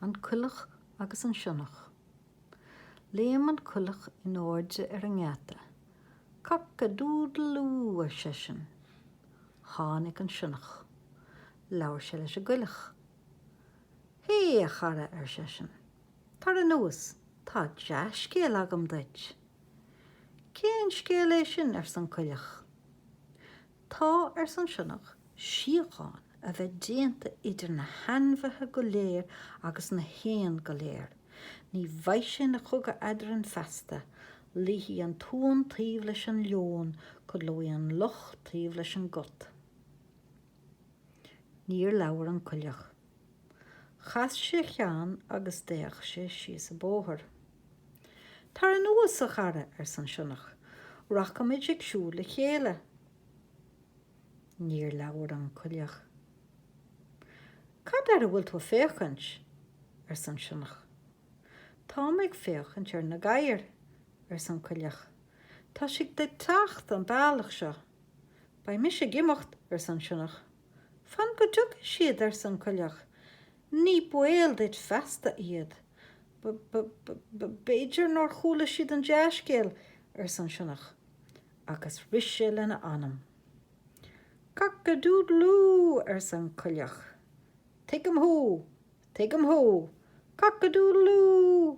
An Coileach agus an Sionnach. Léim an coileach in airde ar an ngeata. Cock a doodle doo, ar seisean. Tháinig an sionnach. Labhair sé leis an gcoileach. Hé, a chara, ar seisean. Tar anuas, tá dea-scéal agam duit. Cén scéal é sin? arsa an coileach. Tá, ars an sionnach, síocháin a bheith déanta idir na hainmhithe go léir agus na héin go léir. Ní bheidh sé ina chogadh eadrainn feasta, luífidh an t-uan taobh leis an leon, codlóidh an luch taobh leis an gcat. Níor labhair an coileach. Chas sé a cheann agus d'fhéach sé síos an bóthar. Tar anuas, a chara, arsa an sionnach, rachaimid ag siúl le chéile. Níor labhair an coileach. Cad air a bhfuil tú ag féachaint? arsa an sionnach. Táim ag féachaint ar na gadhair, arsa an coileach, tá siad ag teacht an bealach seo. Beidh mise ag imeacht, arsa an sionnach. Fan go dtiocfaidh siad, arsa an coileach, ní baol duit feasta iad. B b b b'fhéidir nár chuala siad an dea-scéal, arsa an sionnach, agus rith sé lena anam. Cock-a-doodle-oo! arsa an coileach, tuigim thú, tuigim thú, cock-a-doodle-oo!